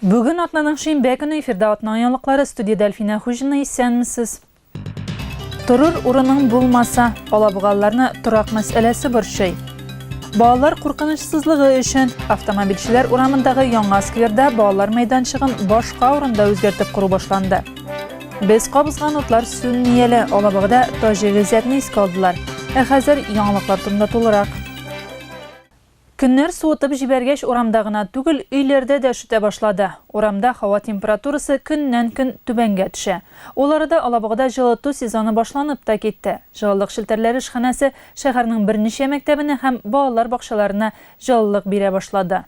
Бүген атнаның шимбә көне эфирда атна яңалыклары студиядә Әлфинә Хуҗина исәнмесез. Торыр урының булмаса, алабугалларны торак мәсьәләсе борчый. Балалар куркынычсызлыгы өчен автомобильчеләр урамындагы яңа скверда балалар мәйданчыгын башка урында үзгәртеп кору башланды. Без кабызган утлар сүнми әле, алабугада таҗи гыйззәтне искә алдылар. Ә хәзер яңалыклар турында тулырак. Көннәр суытып җибәргәч, урамда гына түгел, өйләрдә дә өшетә башлады. Урамда һава температурасы көннән-көн түбәнгә төшә. Ул арада Алабугада җылыту сезоны башланып та китте. Җылылык челтәрләре эшханәсе шәһәрнең берничә мәктәбенә һәм балалар бакчаларына җылылык бирә башлады.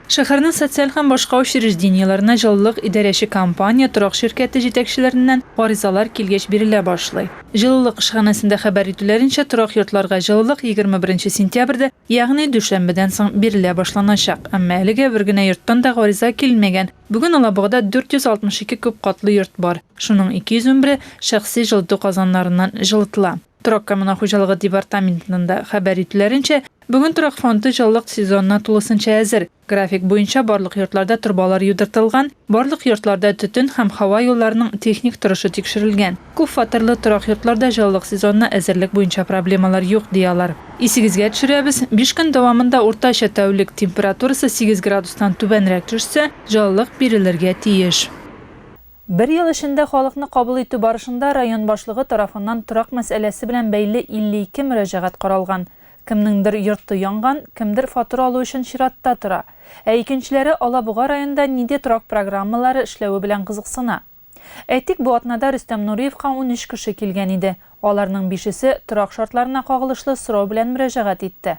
Шәһәрнең социаль һәм башка учреждениеләренә җылылык идарәче компания, торак ширкәте җитәкчеләреннән гаризалар килгәч бирелә башлый. Җылылык эшханәсендә хәбәр итүләренчә, торак йортларга җылылык егерме беренче сентябрьдә, ягъни дүшәмбедән соң бирелә башланачак. Әмма әлегә бер генә йорттан да гариза килмәгән. Бүген Алабугада 462 күпкатлы йорт бар. Шуның 211-е шәхси җылыту казаннарыннан җылытыла. Торак коммуналь хуҗалыгы департаментының да хәбәр итүләренчә, бүген торак фонды җылылык сезонына тулысынча әзер. График буенча барлык йортларда торбалар юдыртылган, барлык йортларда төтен һәм һава юлларының техник торышы тикшерелгән. Күпфатирлы торак йортларда җылылык сезонына әзерлек буенча проблемалар юк, ди алар. Исегезгә төшерәбез, биш көн дәвамында уртача тәүлек температурасы сигез градустан түбәнрәк төшсә, җылылык бирелергә тиеш. Бер ел эчендә халыкны кабул итү барышында район башлыгы тарафыннан торак мәсьәләсе белән бәйле 52 мөрәҗәгать каралган. Кемнеңдер йорты янган, кемдер фатур алу өчен чиратта тора. Ә икенчеләре Алабуга районда ниде торак программалары эшләве белән кызыксына. Әйтик, бу атнада Рөстәм Нуриевка унөч кеше килгән иде. Аларның бишесе торак шартларына кагылышлы сорау белән мөрәҗәгать итте.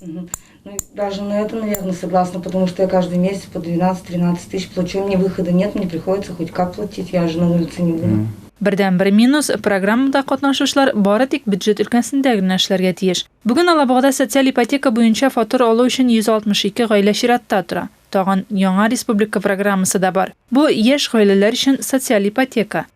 Ну, даже на это, наверное, согласна, потому что я каждый месяц по 12-13 тысяч плачу, у меня выхода нет, мне приходится хоть как платить, я же на улице не буду. Mm. Бердән бер минус программада катнашучылар бары тик бюджет өлкәсендә генә эшләргә тиеш. Бүген Алабугада социаль ипотека буенча фатир алу өчен 162 гаилә чиратта тора. Тагын яңа республика программасы да бар. Бу яшь гаиләләр өчен социаль ипотека.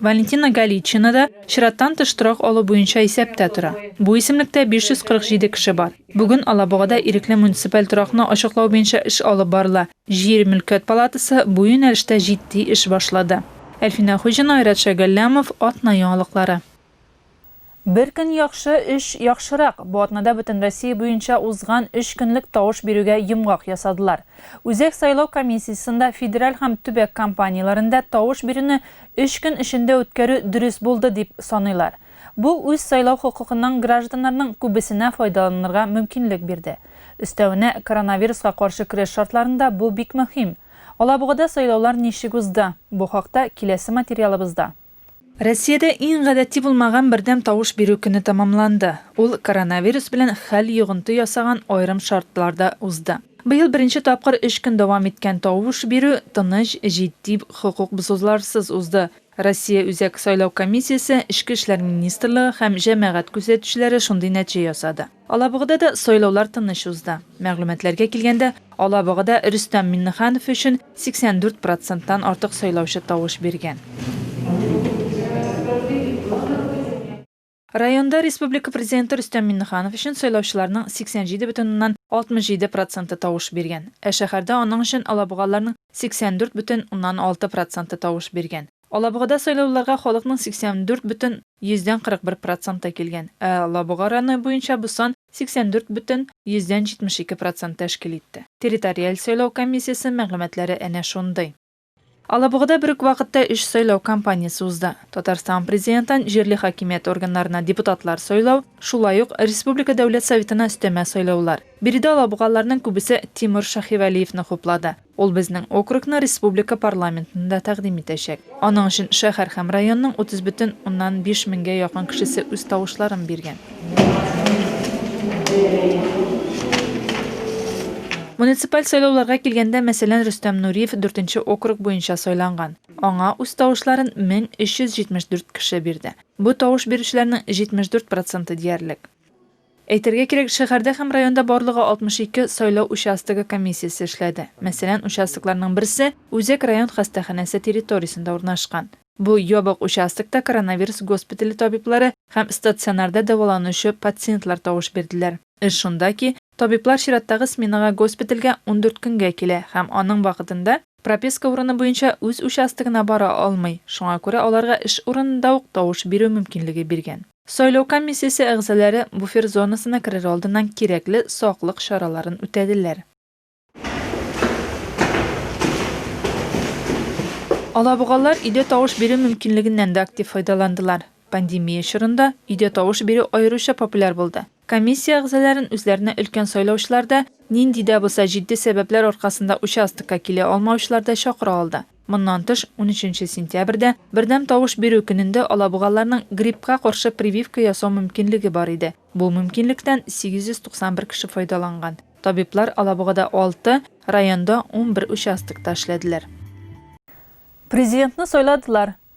Валентина Галичина да чираттан тыш торак алу буенча исәптә тора. Бу исемлектә 547 кеше бар. Бүген Алабугада ирекле муниципаль торакны ачыклау буенча эш алып барыла. Җир, мөлкәт палатасы бу юнәлештә җитди эш башлады. Әлфинә Хуҗина, Айрат Шәгәлләмов, Атна яңалыклары. Бер көн яхшы, өч яхшырак. Бу атнада Бөтенроссия буенча узган өч көнлек тавыш бирүгә йомгак ясадылар. Үзәк сайлау комиссиясендә федераль һәм төбәк компанияләрендә тавыш бирүне өч көн эчендә үткәрү дөрес булды дип саныйлар. Бу үз сайлау хокукыннан гражданнарның күбесенә файдаланырга мөмкинлек бирде. Өстәвенә, коронавируска каршы көрәш шартларында бу бик мөһим. Алабугада сайлаулар ничек узды? Бу хакта киләсе материалыбызда. Россиядә иң гадәти булмаган бердәм тавыш бирү көне тәмамланды. Ул коронавирус белән хәл йогынты ясаган аерым шартларда узды. Быел беренче тапкыр өч көн дәвам иткән тавыш бирү тыныч, җитди, хокук бозуларсыз узды. Россия Үзәк сайлау комиссиясе, Эчке эшләр министрлыгы һәм җәмәгать күзәтүчеләре шундый нәтиҗә ясады. Алабугада да сайлаулар тыныч узды. Мәгълүматларга килгәндә, Алабугада Рөстәм Миннеханов өчен 84 проценттан артык сайлаучы тавыш биргән. Районда республика Президенты Рөстәм Миннеханов өчен сайлаучыларның 87,67 проценты тавыш биргән. Ә шәһәрдә аның өчен алабугалыларның 84,6 проценты тавыш биргән. Алабугада сайлауларга халыкның 84 бөтен йөздән 41 проценты килгән, ә Алабуга районы буенча бу сан 84 бөтен йөздән 72 процент тәшкил итте. Территориаль сайлау комиссиясе мәгълүматлары әнә шундый. Алабугада бер үк вакытта өч сайлау кампаниясе узды. Татарстан Президентын, җирле хакимият органнарына депутатлар сайлау, шулай ук республика Дәүләт Советына өстәмә сайлаулар. Биредә алабугалыларның күбесе Тимур Шаһивәлиевны хуплады. Ул безнең округны республика парламентында тәкъдим итәчәк. Аның өчен шәһәр һәм районның 30 бөтен уннан биш меңгә якын кешесе үз тавышларын биргән. Муниципаль сайлауларга килгәндә, мәсәлән, Рөстәм Нуриев дүртенче округ буенча сайланган. Аңа үз тавышларын 1374 кеше бирде. Бу тавыш бирүчеләрнең 74 проценты диярлек. Әйтергә кирәк, шәһәрдә һәм районда барлыгы 62 сайлау участогы комиссиясе эшләде. Мәсәлән, участокларның берсе Үзәк район хастаханәсе территориясендә урнашкан. Бу ябык участокта коронавирус госпитале табиблары һәм стационарда дәваланучы пациентлар тавыш бирделәр. Эш шунда ки, табиблар чираттагы сменага госпитальгә ундүрт көнгә килә һәм аның вакытында прописка урыны буенча үз участогына бара алмый, шуңа күрә аларга эш урынында ук тавыш бирү мөмкинлеге биргән. Сайлау комиссиясе әгъзалары буфер зонасына керер алдыннан кирәкле саклык чараларын үтәделәр. Алабугалылар өйдә тавыш бирү мөмкинлегеннән дә актив файдаландылар. Пандемия чорында өйдә тавыш бирү аеруча популяр булды. Комиссия әгъзаләрен үзләренә өлкән сайлаучылар да, нинди дә булса җитди сәбәпләр аркасында участокка килә алмаучылар да чакыра алды. Моннан тыш, унөченче сентябрьдә, бердәм тавыш бирү көнендә алабугалыларның гриппка каршы прививка ясау мөмкинлеге бар иде. Бу мөмкинлектән 891 кеше файдаланган. Табиблар Алабугада алты, районда унбер участокта эшләделәр. Президентны сайладылар,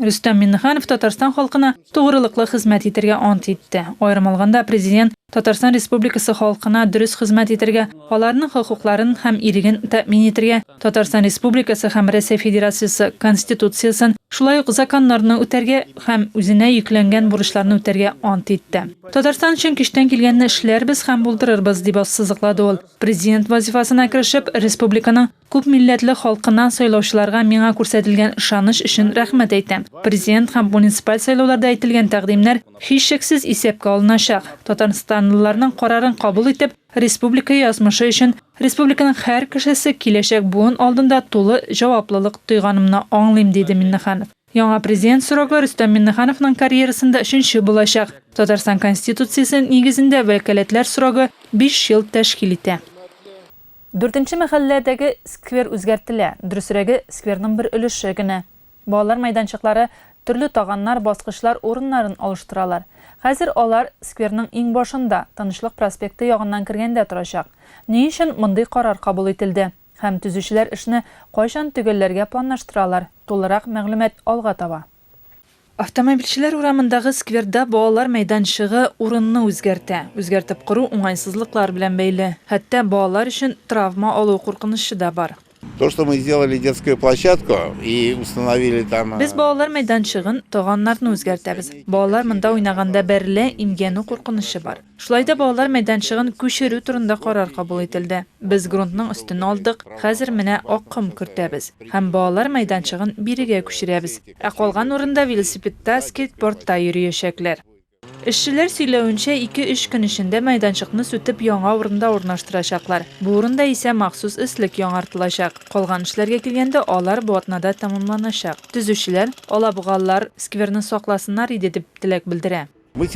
Рөстәм Миңнеханов Татарстан халкына тугрылыклы хезмәт итәргә ант итте. Аерым алганда, Президент Татарстан Республикасы халкына дөрес хезмәт итәргә, аларның хокукларын һәм иреген тәэмин итәргә, Татарстан Республикасы һәм Рәсәй Федерациясе Конституциясен, шулай ук законнарны үтәргә һәм үзенә йөкләнгән бурычларны үтәргә ант итте. Татарстан өчен көчтән килгәнне эшләрбез һәм булдырырбыз, дип ассызыклады ул, Президент вазифасына керешеп, республиканың Күп милләтле халкыннан сайлаучыларга миңа күрсәтелгән ышаныч өчен рәхмәт әйтәм. Президент һәм муниципаль сайлауларда әйтелгән тәкъдимнәр, һичшиксез, исәпкә алыначак. Татарстанлыларның карарын кабул итеп, республика язмышы өчен, республиканың һәр кешесе, киләчәк буын алдында тулы җаваплылык тойганымны аңлыйм, диде Миннеханов. Яңа президент срогы Рөстәм Миннехановның карьерасында өченче булачак. Татарстан Конституциясе нигезендә вәкаләтләр срогы биш ел тәшкил итә. Дүртенче мәхәлләдәге сквер үзгәртелә, дөресрәге, скверның бер өлеше генә. Балалар мәйданчыклары, төрле таганнар, баскычлар урыннарын алыштыралар. Хәзер алар скверның иңбашында, Тынычлык проспекты ягыннан кергәндә торачак. Ни өчен мондый карар кабул ителде һәм төзүчеләр эшне кайчан төгәлләргә планлаштыралар, тулырак мәгълүмат алга таба. Автомобильчеләр урамындагы скверда балалар мәйданчыгы урынны үзгәртә. Үзгәртеп кору уңайсызлыклар белән бәйле. Хәтта балалар өчен травма алу куркынычы да бар. То, что мы сделали детскую площадку и установили там. Без балалар мәйданчыгын, таганнарны үзгәртәбез. Балалар монда уйнаганда бәрелә, имгәнү куркынычы бар. Шулай да балалар мәйданчыгын күчерү турында карар кабул ителде. Без грунтның өстен алдык, хәзер менә ак ком кертәбез һәм балалар мәйданчыгын бирегә күчерәбез. Ә калган урында велосипедта, скейтбордта йөриячәкләр. Эшчеләр сөйләвенчә, ике-өч көн эчендә мәйданчыкны сүтеп яңа урында урнаштырачаклар. Бу урында исә махсус өслек яңартылачак. Калган эшләргә килгәндә, алар бу атнада тәмамланачак. Төзүчеләр, алабугалылар скверны сакласыннар иде, дип теләк белдерә. Без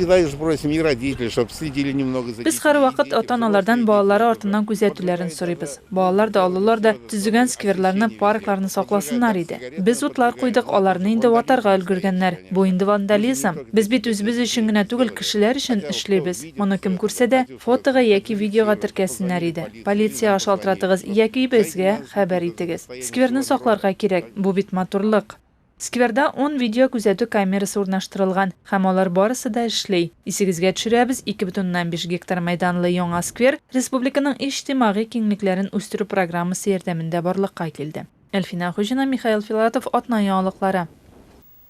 һәрвакыт ата-аналардан балалары артыннан күзәтүләрен сорыйбыз. Балалар да, олылар да төзегән скверларны, паркларны сакласыннар иде. Без утлар куйдык, аларны инде ватарга өлгергәннәр. Бу инде вандализм. Без бит үзебез өчен генә түгел, кешеләр өчен эшлибез. Моны кем күрсә дә, фотога яки видеога теркәсеннәр иде. Полициягә шалтыратыгыз яки безгә хәбәр итегез. Скверны сакларга кирәк. Бу бит матурлык. Скверда ун видеокүзәтү камерасы урнаштырылган һәм алар барысы да эшли. Исегезгә төшерәбез, ике бөтен уннан биш гектар мәйданлы яңа сквер республиканың иҗтимагый киңлекләрен үстерү программасы ярдәмендә барлыкка килде. Әлфинә Хуҗина, Михаил Филатов, Атна яңалыклары.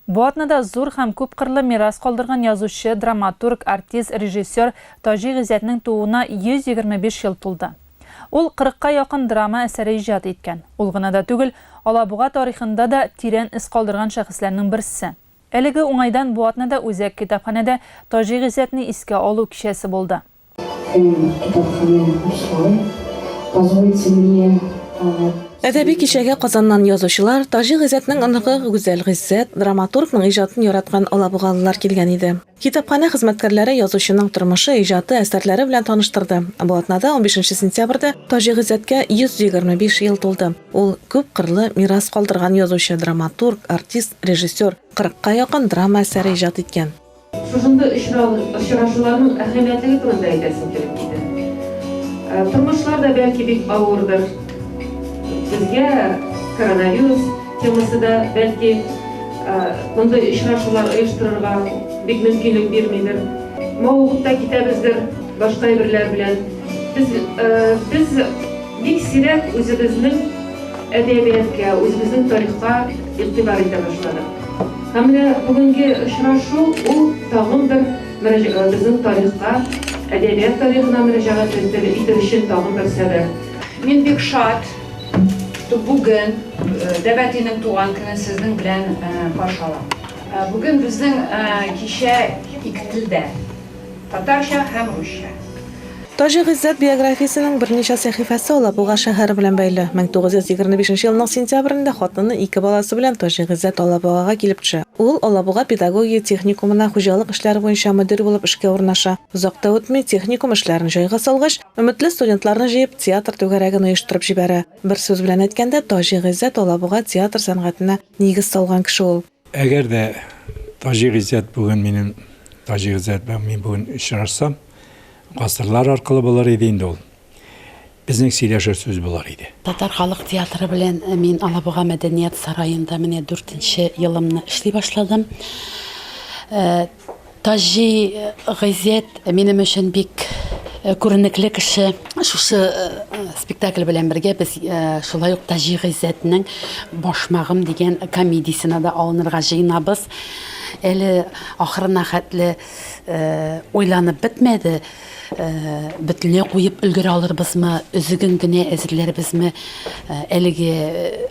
Бу атнада зур һәм күпкырлы мирас калдырган язучы, драматург, артист, режиссер Таҗи Гыйззәтнең тууына 125 ел тулды. Ул кырыкка якын драма әсәре иҗат иткән. Ул гына да түгел, Алабуга тарихында да тирән эз калдырган шәхесләрнең берсе. Әлеге уңайдан бу атнада Үзәк китапханәдә Таҗи Гыйззәтне искә алу кичәсе булды. Һәм китапханә эшләве, позвольте мне. Әдәби кичәгә Казаннан язучылар, Таҗи Гыйззәтнең оныгы Гүзәл Гыйззәт, драматургның иҗатын яраткан алабугалылар килгән иде. Китапханә хезмәткәрләре язучының тормышы, иҗаты, әсәрләре белән таныштырды. Бу атнада, унбишенче сентябрьдә, Таҗи Гыйззәткә 125 ел тулды. Ул, күп кырлы мирас калдырган язучы, драматург, артист, режиссер. Кырыкка якын драма әсәре иҗат иткән. Шушындый очрашуларның әһәмиятлеге турында әйтәсем килеп китә. Тормышлар да, бәлки, бик авырдыр. Безгә коронавирус. Темасы да, бәлки, мондый очрашулар оештырырга бик мөмкинлек бирмидер. Мавыгып та китәбездер башка әйберләр белән. Без, без бик сирәк үзебезнең әдәбияткә, үзебезнең тарихка игътибар итә башладык. Һәм менә бүгенге очрашу ул тагын бер безнең тарихка, әдәбият тарихына мөрәҗәгать итү өчен тагын бер сәбәп. Мин бик шат, Бүген Дәбәтинең туган көне сезнең белән каршы алам. Бүген безнең кичә ике телдә, татарча һәм русча. Таҗи Гыйззәт биографиясенең берничә сәхифәсе ала. Буга шәһәре белән бәйле. 1925 нче елның сентябрендә хатыны ике баласы белән Таҗи Гыйззәт Алабугага килеп төшә. Ул Алабуга педагогия техникумына хуҗалык эшләре буенча мөдир булып эшкә урнаша. Озак та үтми, техникум эшләрен җайга салгач, Өметле студентларны җыеп, театр түгәрәген оештырып җибәрә. Бер сүз белән әйткәндә, Таҗи Гыйззәт Алабуга театр сәнгатенә нигез салган кеше ул. Әгәр дә Таҗи Гыйззәт бүген минем Таҗи Гыйззәт белән мин бүген очрашсам, гасырлар аркылы булыр иде инде ул. Безнең сөйләшер сүз булыр иде. Татар халык театры белән мин Алабуга мәдәният сараенда менә дүртенче елымны эшли башладым. Таҗи газет минем өчен бик күренекле кеше. Шушы спектакль белән бергә без шулай ук Таҗи газетның Башмагым дигән комедиясенә дә алынырга җыенабыз. Әле ахырына хәтле уйланып бетмәде. Бөтенләй куеп өлгерә алырбызмы, өзеген генә әзерләрбезме, әлеге